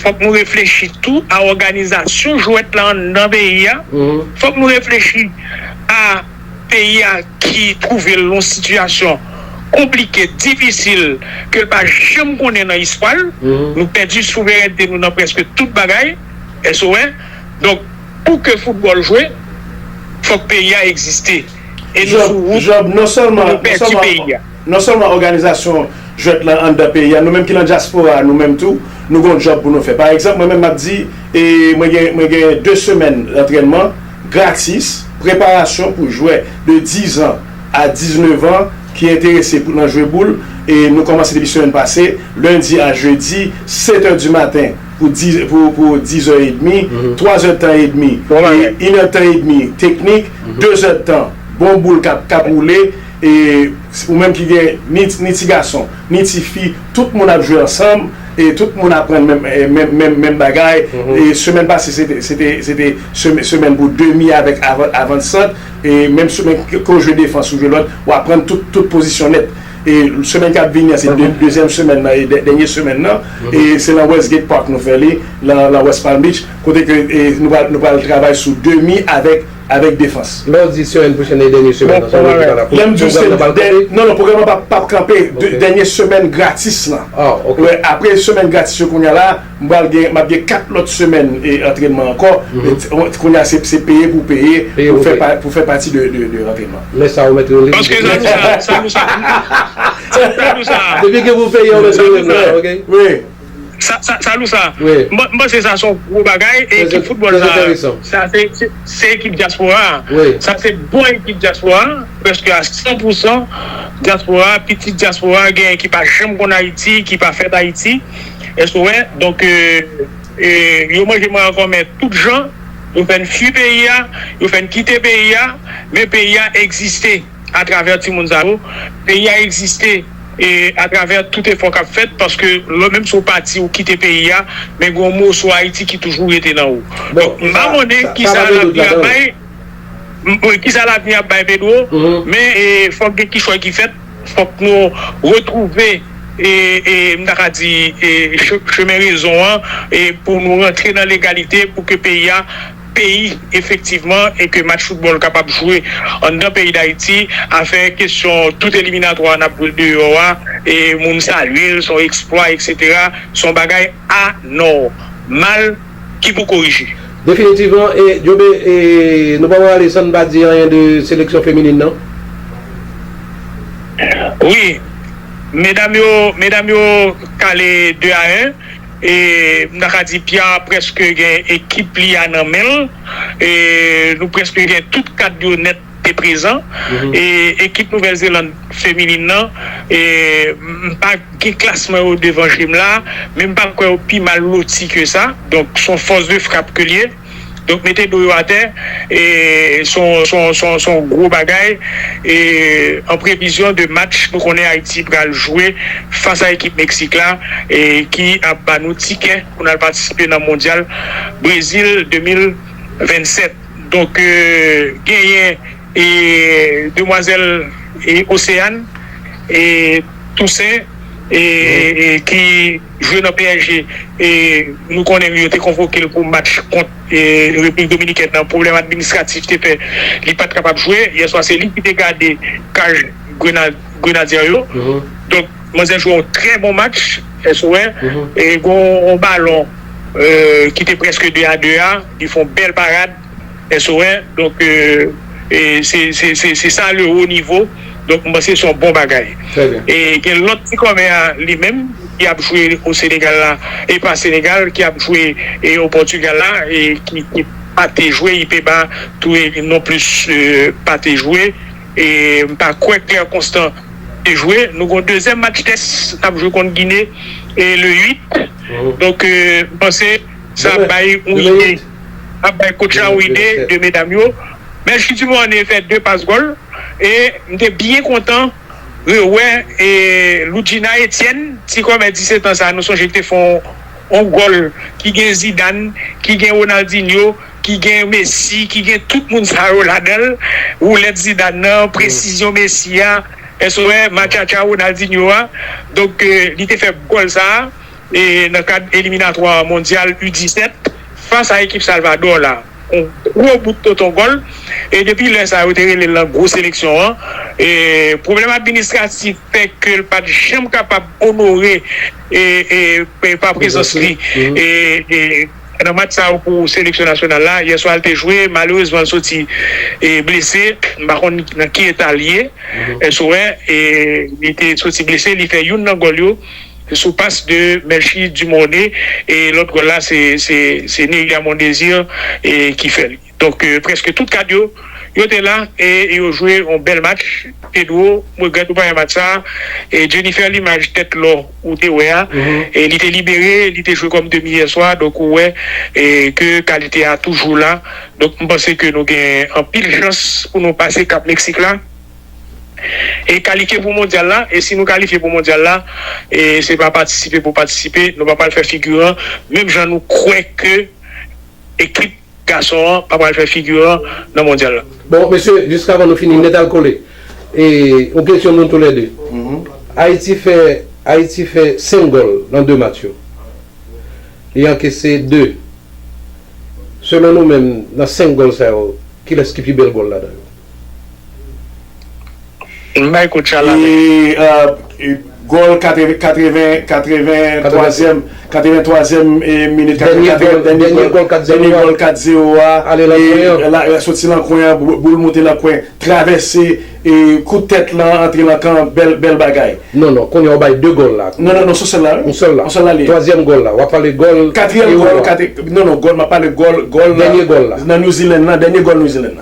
fòk nou reflechi tou a òganizasyon jwèt la anndan peyi a fòk nou reflechi a peyi a ki twouve l yon sitiyasyon konplike difisil ke l pa janm konnen nan istwa l nou pèdi souverènte nou nan prèske tout bagay èske w wè donk. Pou ke foutbòl jwe, fòk peyi a egziste. E nou sou wout pou nou pèdi peyi a. Job, non sèlman òganizasyon jwèt lan anndan peyi a, nou menm ki lan dyaspora a, nou menm tou, nou gen yon job pou nou fè. Pa egzanp, mwen menm m ap di, mwen gen 2 semèn antrènman gratis, preparasyon pou jwè de 10 an a 19 an ki enterese pou nan jwe boul. E nou kòmanse depi semèn pase, lendi a jedi, 7 è di maten. pou di pou pou dizè edmi twazè tan edmi Bon bagay. e inè tan edmi teknik dezè tan bon boul kap kap woule e ou menm ki gen ni ni ti gason ni ti fi tout moun ap jwe ansanm e tout moun aprann menm menm menm menm bagay e semèn pase se te se te se te semè semèn pou demi avèk avan avan sant e menm sou menm ke ou jwe defans ou jwe lòt ou aprann tout tout pozisyon nèt. E semèn kap vini an se dezyèm semèn nan e dènye semèn nan e se nan Westgate Park nou fè li nan West Palm Beach kote ke nou pral travay sou demi avèk avèk defans. Lè w di semèn pwochèn nan e dènye semèn nan sa vle di pa nan pwogram nan pral kanpe? Non non pwogram nan pap kanpe dènye semèn gratis lan apre semèn gratis yo kounya la. M pral gen, m ap gen 4 lòt semèn antrènman ankò. Kounye a se peye pou w peye pou w fè pati de antrènman. Men sa ou mèt rele m. Paske sa nou sa, sa nou sa. Sa nou sa. Depi gen pou w peye ou mèt rele m la ok. Wi. Sa nou sa. Wi. M panse sa se yon gwo bagay e ekip foutbòl sa. Trè enteresan. Sa se ekip dyaspora a. Wi. Sa se bon ekip dyaspora a. Prèske a 100 pou 100 dyaspora a, pitit dyaspora a, gen ki pa janm konn Ayiti, ki pa fèt Ayiti. Èske ou wè? Donk, yo manje mwen ankò men tout jan, yo fè n fui peyi a, yo fè n kite peyi a, men peyi a egziste atravè timoun sa yo, peyi a egziste atravè tout efò k ap fèt paske menm si ou pati, ou kite peyi a, men gen yon moso Ayiti ki toujou rete nan ou. Donk, m pa konnen ki sa lavni ap bay, ki sa lavni ap bay Pedro, men fòk gen kichòy ki fèt. fòk nou retwouve, m ta ka di, chemen rezon an e pou nou rantre nan legalite pou ke peyi a peyi efektivman e ke match foutbòl kapab jwe anndan peyi Dayiti. Afè kesyon tout eliminatwa n ap jwe deyò a, moun salye l s on eksplwa eksetera, s on bagay anòmal. ki pou korije. Definitivman e Djobe e nou pa prale san n pa di anyen de seleksyon feminin nan. Wi medam yo medam yo kale 2 a 1 e m ta ka di Pia preske gen ekip li a nan men l e nou preske gen tout kad yo nèt. te prezan e ekip Nouvèl Zeland feminin nan m pa gen klasman yo devan je m la men m pa kwè yo pi mal loti ke sa donk son fòs de frap ke l ye donk mete do yo atè son gwo bagay e an previzyon de match nou konnen Ayiti pral jwe fas a ekip Meksik la ki ap ba nou tikè pou n al patisipe nan mondyal Brezil 2027. Donk genyen demwazèl Océane Toussaint ki jwe nan psg nou konnen li yo te konvoke l pou match kont Repiblik Dominikèn nan pwoblèm administratif te fè li pat kapab jwe yèswa se li ki te gade kaj Grenadye yo donk manzè jwe yon trè bon match gon yon balon ki te prèske 2 a 2 a. Li fè yon bèl parad SOH donk se sa le haut niveau donk m panse se yon bon bagay. E gen lòt ti kòmè a li menm ki ap jwe o Senegal la e pa Senegal ki ap jwe o Pòtugal la e ki pa te jwe Ipeba tou non plis pa te jwe e m pa kwè Claire Constant te jwe. Nou gen yon dezyèm match tès n ap jwe kont Gine le 8 donk m panse. Sa ap bay yon ide ap bay coach la yon ide de medam yo men Chudi Morne fè 2 pas gòl e m te byen kontan rewè Loudjina Etienne ti kòmè 17 ans sa nou sonje l te fè yon gòl ki gen Zidane ki gen Ronaldinho ki gen Messi ki gen tout moun sa yo ladan l woulèt Zidane nan presizyon Messi a èske w wè matchatcha Ronaldinho a donk li te fè gòl sa. nan kad eliminatwa mondyal U 17 fas a ekip Salvador la. Yon gwo bout tonton gòl e depi lè sa yo te rele l nan gwo seleksyon an. Pwoblèm administratif fè ke l pat janm kapab onore pa prezans li nan match sa yo pou seleksyon nasyonal la. Yè swa l te jwe, malerezman l soti blese, m pa konn nan ki eta l ye. Sou wè li te soti blese, li fè youn nan gòl yo. Sou pas de Melchie Dumornay e lòt gòl la se Neria Mondésir ki fè li. Donk prèske tout kad yo, yo te la e yo jwe yon bèl match. Pedro, m regrèt ou pa wè match sa a. Jennifer limaj tèt lò ou te wè a, li te libere, li te jwe kòm demi yè swa, donk ou wè ke kalite a toujou la. Donk m panse ke nou gen anpil chans pou nou pase kap Meksik la. E kalifye pou mondyal la, e si nou kalifye pou mondyal la, e se pa patisipe pou patisipe, nou pa pral fè figiran, menm jan nou kwè ke ekip gason an pa pral fè figiran nan mondyal la. Bon, mesye, jiskavan nou fini nètalkole, e yon kesyon pou nou tou lè de. Ayiti fè, Ayiti fè 5 gòl nan 2 match yo. Li ankese 2. Selon nou menm, nan 5 gòl sa yo, kilès ki pi bèl gòl ladan yo? Gòl 83 èm minit dènye gòl 4 zero a soti lan kwen an boul moute lan kwen travèse kout tèt lan antre lan kan bèl bagay non non kounye a ou bay 2 gòl la non non non son sèl la wi yon sèl la twazyèm gòl la wap pale gòl katriyèm gòl non non map pale gòl dènye gòl la nan New Zealand la dènye gòl New Zealand la.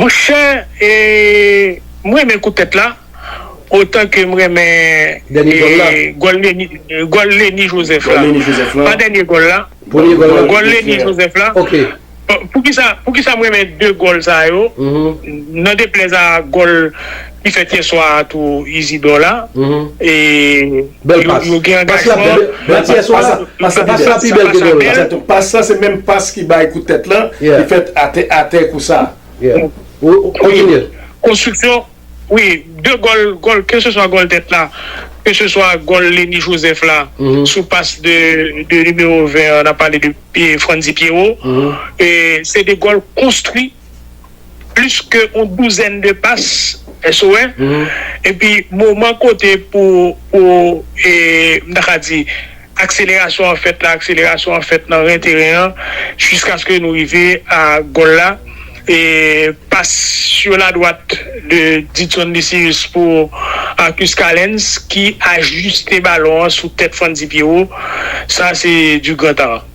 Monchè m renmen kou tèt la otan ke m renmen gòl Leni Joseph la pa dènye gòl la gòl Leni Joseph la poukisa m renmen 2 gòl sa yo nan deplèz a gòl Ki fèt yè swa a tou Izidò la e yo gen angajman. Pas yè swa a, pas la pi bèl. Pas la pi bèl ke gen la. Egzateman. Pas la se menm pas ki bay kout tèt lan ki fèt atè atè kou sa. Kontinye. Konstriksyon, wi, 2 gòl, gòl ke se swa gòl tèt la, ke se swa gòl Leni Joseph la sou pas de nimewo 20 an, n ap pale de Frantzy Pierrot, se 2 gòl konstwi. plis ke yon douzèn de pas SOS epi moman kote pou pou m ta ka di akselerasyon an fèt la, akselerasyon an fèt nan ren teren an jiskaske nou rive a gòl la e pas sur la droite de Didson Lucius pou Arcus Calens ki ajiste balon an sou tèt Frantzy Pierrot sa se du grand art.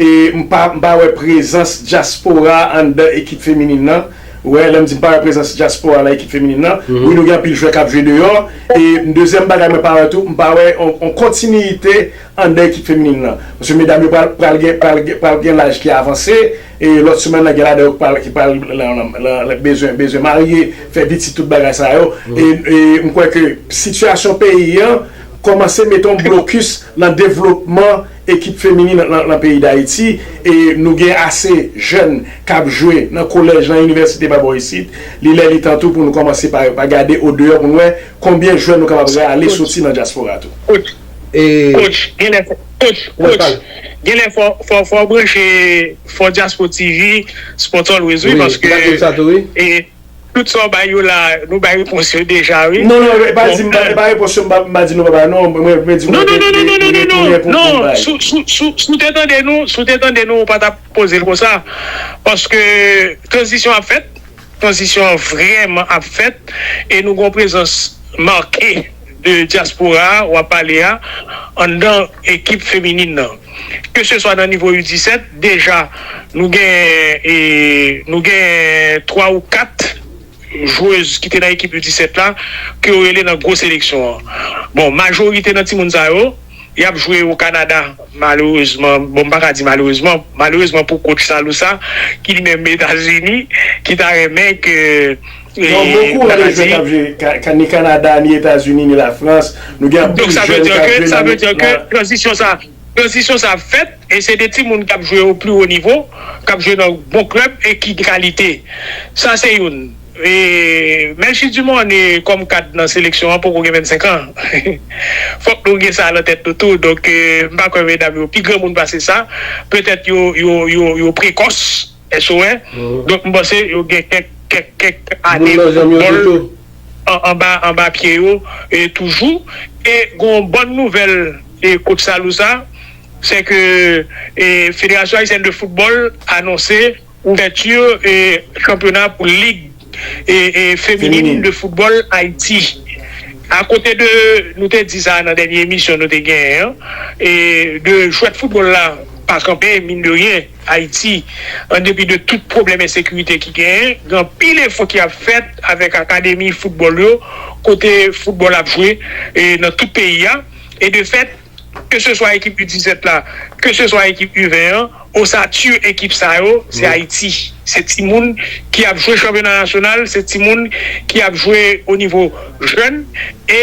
E m pa m pa wè prezans dyaspora anndan ekip feminin nan wè lè m di m pa wè prezans dyaspora nan ekip feminin nan wi nou gen anpil jwè kap jwe deyò e dezyèm bagay mwen pa wè tou m pa wè on kontiniyite anndan ekip feminin nan paske medam yo pral pral gen pral gen pral gen laj ki avanse e lòt soumen nan gen ladan yo ki pral ki pral lan lan lan bezwen bezwen marye fè pitit tout bagay sa yo e e m kwè ke sitiyasyon peyi an kòmanse mete on blokis lan devlopman Ekip feminin nan peyi Dayiti e nou gen ase jèn k ap jwe nan kolèj, nan inivèsite pa bò isit. Li lè li tan tou pou nou kòmanse pa gade odeyò pou nou wè konbyen jwè nou kapab rale soti nan dyaspora tou. Coach genlè fò w branche fò diaspo TV sport always wi paske Tout sa w bay yo la nou bay repons yo deja wi. Non non epa di mpa epa repons yo mpa mpa di nou pa bay non mwen mwen di mwen gen gen gen gen tounen pou poum bay. Non non non non sou te tande nou sou te tande nou ou pa tap poze l konsa paske tranzisyon ap fèt tranzisyon an vrèman ap fèt e nou gon prezans make de dyaspora a wap pale a anndan ekip feminin nan. ke se swa nan nivo U 17, deja nou gen nou gen 3 ou 4 jwez ki te nan ekip U 17 la ke yo rele nan gwo seleksyon an. Bon majorite nan timoun sa yo, y ap jwe o Kanada malerezman, bon m pa ka di malerezman, malerezman pou kotch Salou sa ki li menm Etazini ki ta renmen ke Donk bokou an de jèn kap jwe ni Kanada, ni Etazini, ni Lafrans, nou gen anpil jèn kap jwe nan mitan. Donk sa vle di ke tranzisyon sa, tranzisyon sa ap fèt e se de timoun kap jwe o pli wo nivo, kap jwe nan bon klèb e ki de kalite. Sa se youn. E Melchie Dumornay kòm kad nan seleksyon an poko gen 25 an. Fòk nou gen sa nan tèt nou tou. Donk m pa kwè medam yo pi granmoun pase sa. Petèt yo yo yo prekòs. Èske ou wè? Donk m panse yo gen kèk kèk kèk ane foutbòl anba anba pye yo toujou e gon w bòn nouvèl e kotch Salou sa se ke e federasyon ayisyèn de foutbòl anonse ouvèti e chanpyona pou lig e e feminin de foutbòl Ayiti a kote de nou te di sa nan dènye emisyon nou te genyen an e de jwèt foutbòl la pa kanpe min de ryen. Ayiti, an depi de tout pwoblèm ensekirite ki genyen, gen anpil efò ki ap fèt avèk akademi foutbòl yo, kote foutbòl ap jwe nan tout peyi a. E de fèt, ke se swa ekip U 17 la, ke se swa ekip U 20 an, osatur ekip sa yo, se Ayiti. Se timoun ki ap jwe chanpyona nasyonal, se timoun ki ap jwe o nivo jèn. E.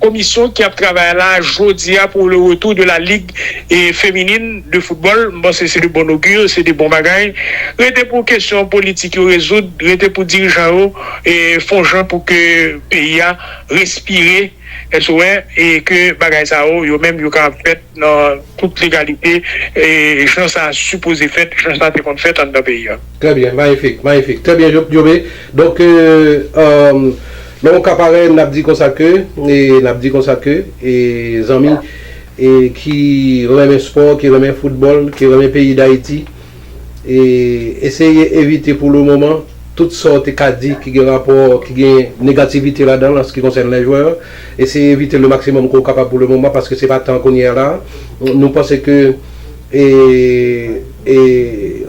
Komisyon ki ap travay la jodi a pou le retou de la lig feminin de foutbòl, m panse se de bon ogir, se de bon bagay. Rete pou kesyon politik yo rezoud, rete pou dirijan yo fon jan pou ke peyi a respire, èske w wè, e ke bagay sa yo, yo menm yo kapab fèt. nan tout legalite e jan sa sipoze fèt, jan sa te konn fèt anndan peyi a. Trè byen, mayifik, mayifik. Trè byen Jobe. Donk, lè yon ka parèy n ap di konsa ke, n ap di konsa ke zanmi ki renmen spò, ki renmen foutbòl, ki renmen peyi Dayiti, E eseye evite pou le moman tout sa w te ka di ki gen rapò, ki gen negativite ladan l an se ki konsène les joueurs. Eseye evite le maximum ke w kapab pou le moman paske se pa tan kounye a la. Nou panse ke e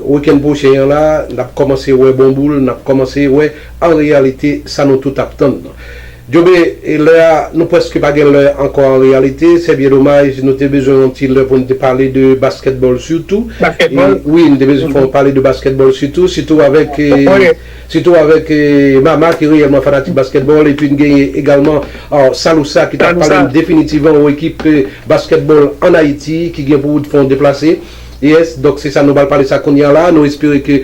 weekend pwochen an la n ap kòmanse wè bon boul, n ap kòmanse wè an reyalite sa nou tout ap tann nan. Djobe e lè a nou preske pa gen lè ankò an reyalite se byen domaj nou te bezwen yon ti lè pou nou te pale de basketball sitou Basketball? wi nou te bezwen fè yon pale de basketball sitou sitou avèk sitou avèk Mama ki reyèlman fanatik basketball epi nou genyen egalman Salousa ki tap pale nou definitivman yon ekip basketball an Ayiti ki gen pou fè yon deplase yes donk se sa nou pral pale sa kounya la nou espere ke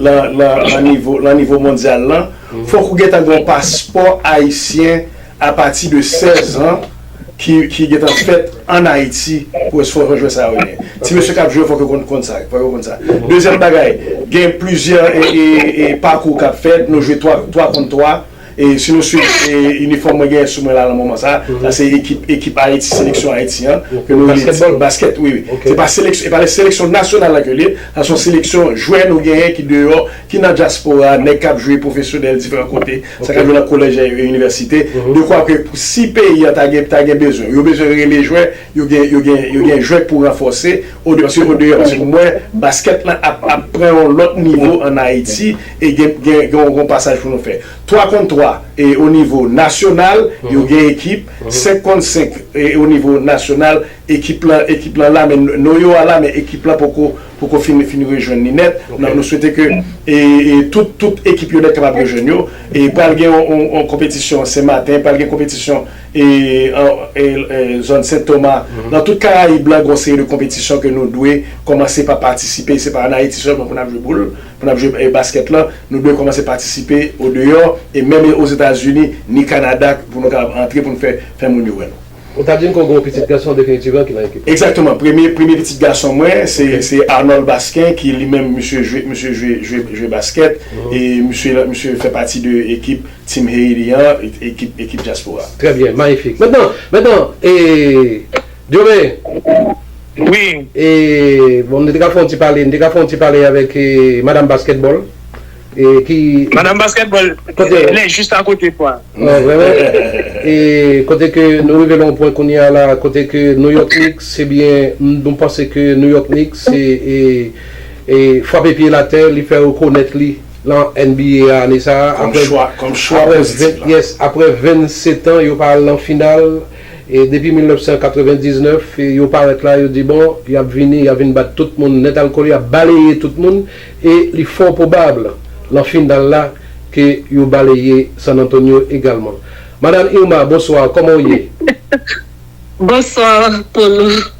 lan nivo mondyal lan, fòk ou gentan gen yon paspò ayisyen apati de 16 an ki gentan fèt an Ayiti pou esfò jan jwè sa yo ye. Ti mesye k ap jwe yo fòk yo konn sa. Dezyèm bagay, gen plizyè pakou k ap fèt, nou jwe 3 kont 3. E si nou swiv inifòm mwen genyen sou mwen la nan moman sa, sa se ekip ekip Ayiti, seleksyon Ayiti an. Ke nou rele basketball? Basket wi wi. Ok. Se pa seleks e pa le seleksyon nasyonal la ke li ye, sa son seleksyon jwè nou genyen ki deyò, ki nan dyaspora, nèg kap jwe pwofesyonèl diferan kote, sa kap jwe nan kolèj e inivèsite, dekwa ke pou si peyi an ta gen ta gen bezwen, yo bezwen rele jwè, yo gen yo gen yo gen jwè pou ranfòse o paske o deyò paske mwen basket lan ap ap pran yon lòt nivo an Ayiti. E gen gen gen yon pasaj pou nou fè. 3 kont 3 e o nivo nasyonal yo gen ekip, 5 kont 5 e o nivo nasyonal ekip lan ekip lan la men noyo a la men ekip lan poko poko fin fin rejwenn li nèt. Nan nou swete ke e e tout tout ekip yo nèt kapab rejwenn yo. E pral gen yon yon yon konpetisyon Sen Maten, pral gen konpetisyon e an e e zòn Sen Toma. Nan tout Karayib lan gen yon seri de konpetisyon ke nou dwe kòmanse pa patisipe. Se pa an Ayiti sèlman pou n ap jwe boul. Pou nap jwe basket lan nou dwe komanse patisipe o deyo e menm e ozetazini ni kanada pou nou kapab antre pou nou fè fè moun yo wè nou. Ou ta dim ke w gen yon pitit gason definitiv lan ki lan ekip lan? Exactement premye premye pitit gason mwen se se Arnold Basquin ki li menm misye jwe misye jwe jwe jwe basket e misye lan misye fè pati de ekip Team Haiti an ekip ekip diaspora. Trè byen, mayifik. Mentnan, mentnan, e Djore! Wi! E, bon, nou te ka fè yon ti pale, nou te ka fè yon ti pale avèk Madam Baskètbòl, e ki. Madam Baskètbòl, lè jis a kote pou a. An, vrèman? E, kote ke nou rive nan yon pwen kounye a la, kote ke New York Knicks, se byen, nou panse ke New York Knicks se, e, e, fwape pye l atè, li fè rekonèt li nan NBA a ane sa a, apre. Kòm chwa, kòm chwa pou ekip la. Yes, apre 27 an, yo pa al nan final. E depi 1999 yo parèt la yo di bon yap vini yap vin bat tout moun nèt alkole yap baleye tout moun e li fò pwobab lan final la ke yo baleye San Antonio egalman. Madam Irma bonsoir kòman ou ye? Bonsoir Polo.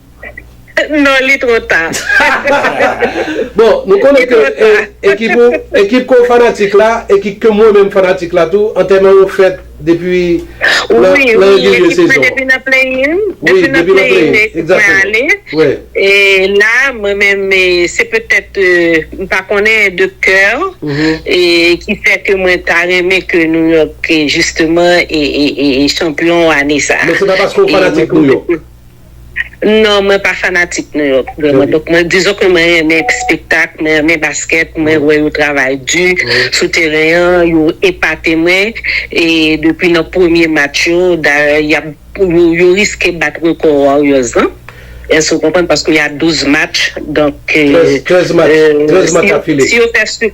Non li two ta. Bon nou konnen ke ekip ou, ekip ke w fanatik la, ekip ke mwen menm fanatik la tou, antèman yo fèt depi nan regilye sezon an. Wi, wi, ekip mwen depi nan playin, depi nan playin ekip mwen ale. E la mwen menm se petèt m pa konnen de kè ki fè ke mwen ta renmen ke Nouyòk jisteman e chanpyon ane sa. Men se pa paske w fanatik Nouyòk? Non mwen pa fanatik New York vrèman donk mwen dizon ke mwen renmen spektak, mwen renmen baskèt, mwen wè yo travay di sou teren an, yo epate mwen e depi nan premye match yo dayè yap yo riske bat rekò Warriors lan èske ou konprann paske ya 12 match donk si yo fè.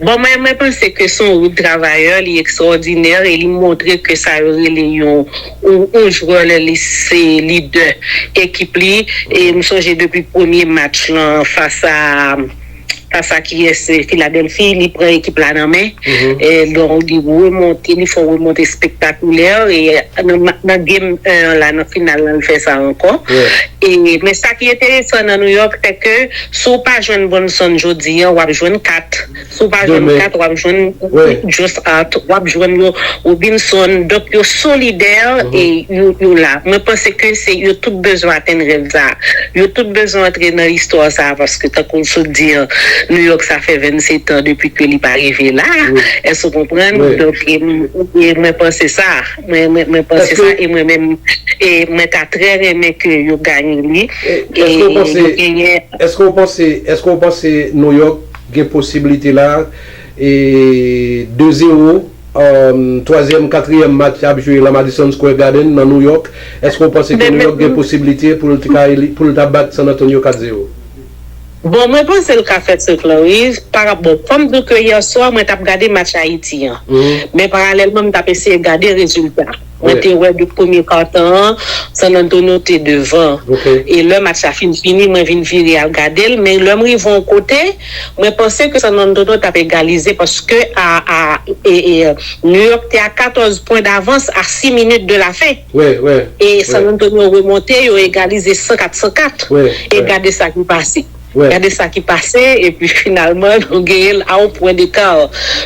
Bon mwen mwen panse ke son wout travayè li ekstraòdinè e li montre ke sa yo rele yon yon jwè lè li se lidè ekip li e m sonje depi premye match lan fas a fas a kiyès Filadèlfi li pran ekip la nan men e donk li remonte li fon remonte espektakulè e nan nan game 1 an la nan final lan li fè sa ankò e men sa ki enteresan nan Nouyòk se ke Si w pa jwenn Bronson jodi an, w ap jwenn Kat. Si w pa jwenn Kat, w ap jwenn Jossart, w ap jwenn yo Robinson. Donk yo solidè e yo la. Mwen panse ke se yo tout bezwen atenn rèv sa a. Yo tout bezwen antre nan istwa sa a paske tankou m sot di an, Nouyòk sa fè 27 an depi ke li pa rive la a. Èske w konprann? Donk mwen panse sa. Mwen panse sa e mwen menm e mwen ta trè renmen ke yo gagne li e yo genyen. Eske ou panse eske ou panse New York gen posibilite la e 2 zero twazyèm katriyèm match ap jwe lan Madison Square Garden nan New York eske ou panse ke New York gen posibilite pou l ta bat San Antonio 4 zero? Bon mwen panse l ka fè truc lan wi pa ra bon fòm di w ke yè swa mwen tap gade match Ayiti an men paralèlman m tap eseye gade rezilta mwen te wè depi premye kartan an San Antonio te devan e lè match la fin fini mwen vin vire al gade l men lè m rive yon kote mwen panse ke San Antonio tap egalize paske a a New York te a 14 pwen davans a 6 minit de la fen. e San Antonio remonte yo egalize 100 kat 100 kat e gade sa ki pase gade sa ki pase epi finalman nou genyen l a yon pwen deka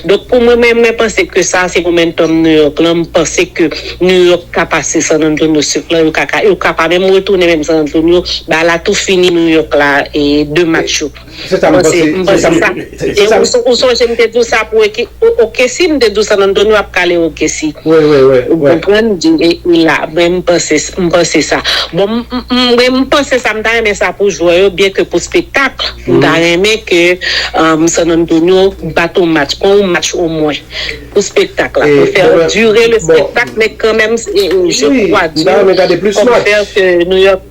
donk pou mwen menm mwen panse ke sa se momentum New York lan m panse ke New York ka pase San Antonio sif lan yo ka pa menm retounen menm San Antonio ba la tou fini New York la e 2 match yo. Se sa m panse. M panse sa. E ou sonje m te di w sa pou Okesi, m te di w San Antonio ap kale Okesi. Wi, wi, wi. Ou konprann? Li la. Mwen m panse, m panse sa. Bon, mwen m panse sa, m ta renmen sa pou jwè yo, byen ke pou spektak, m ta renmen ke San Antonio bat on match, pran on match omwen. Pou spektak la. Pou fè dire le spektak, men kanmenm, je kwa di w, pou fè ke New York.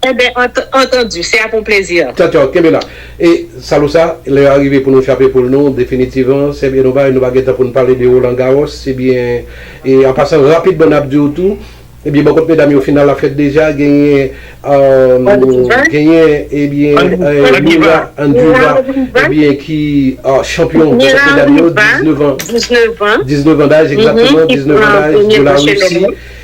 Enben, entendu, c'est à ton plaisir. Tchaw tchaw, kenbe la. E Salo sa, lè a rive pou nou chape poul nou definitivan, Seb e Nobay, nou pa gen tan pou nou pale de Roland Garros, ebyen, e an pasan rapidman nap di w tou, ebyen bò kot medam yo final la fèt deja, genyen, genyen, ebyen, Mira Andreeva, ebyen ki chanpyon bò kot medam yo, 19 ans, 19 ans daj, egzatteman, 19 ans daj, de la Russie.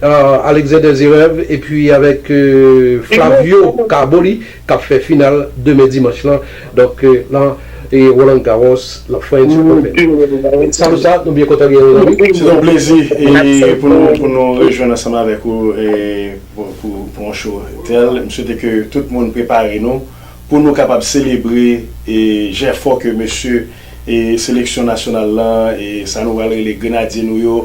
Alexander Zverev epi avèk Flavio Carboni kap fè final demen dimanch lan donk nan Roland Garros nan French Open. Salut sa nou byen kontan genyen w zanmi. Se ton plezi pou nou rejwenn ansanm avèk ou pou yon show tel. M swete ke tout moun prepare nou. pou nou kapab selebre jèfò ke mesye seleksyon nasyonal lan, sa nou pral rele grenadye nou yo,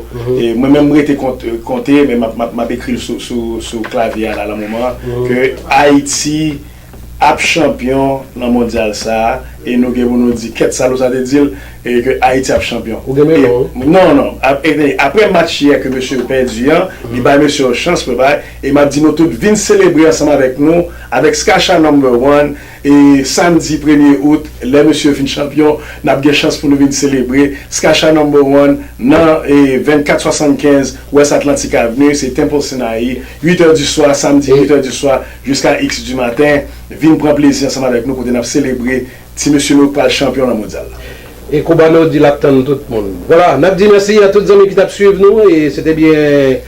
mwen menm m rete konte men m ap ekri l sou klavye a la lan moman an, ke Ayiti ap chanpyon lan mondyal sa a, e nou gen pou nou di kèt sa l ou sa te di l, ke Ayiti ap chanpyon. Ou gen men non wi. Non, non. Apre match yè ke mesye yo pèdi an, li bay mesye yo chans pou yo pa, e m ap di nou tout vin selebre ansanm avèk nou, Avèk Skasha Number One e Samdi premye Out lè mesye vin chanpyon nap gen chans pou nou vin selebre Skasha Number One nan 24 75 West Atlantic Avenue se Temple Sinaï 8 heures du soir Samdi 8 heures du soir jusqu'à X du matin vin pran plezi ansanm avèk nou kote nap selebre Ti mesye nou pral chanpyon nan mondyal la. E Cubano di lap tann tout moun. Voila, nap di mèsi a tout zanmi ki tap swiv nou e se te byen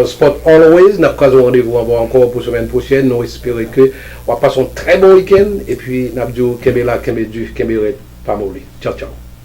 Sport Always, nap kraze yon randevou avèw ankò pou semèn pwochèn, nou espere ke wap pase yon trè bon wikenn epi nap diw kenbe la, kenbe di, kenbe rèd, pa moli. Tchaw tchaw.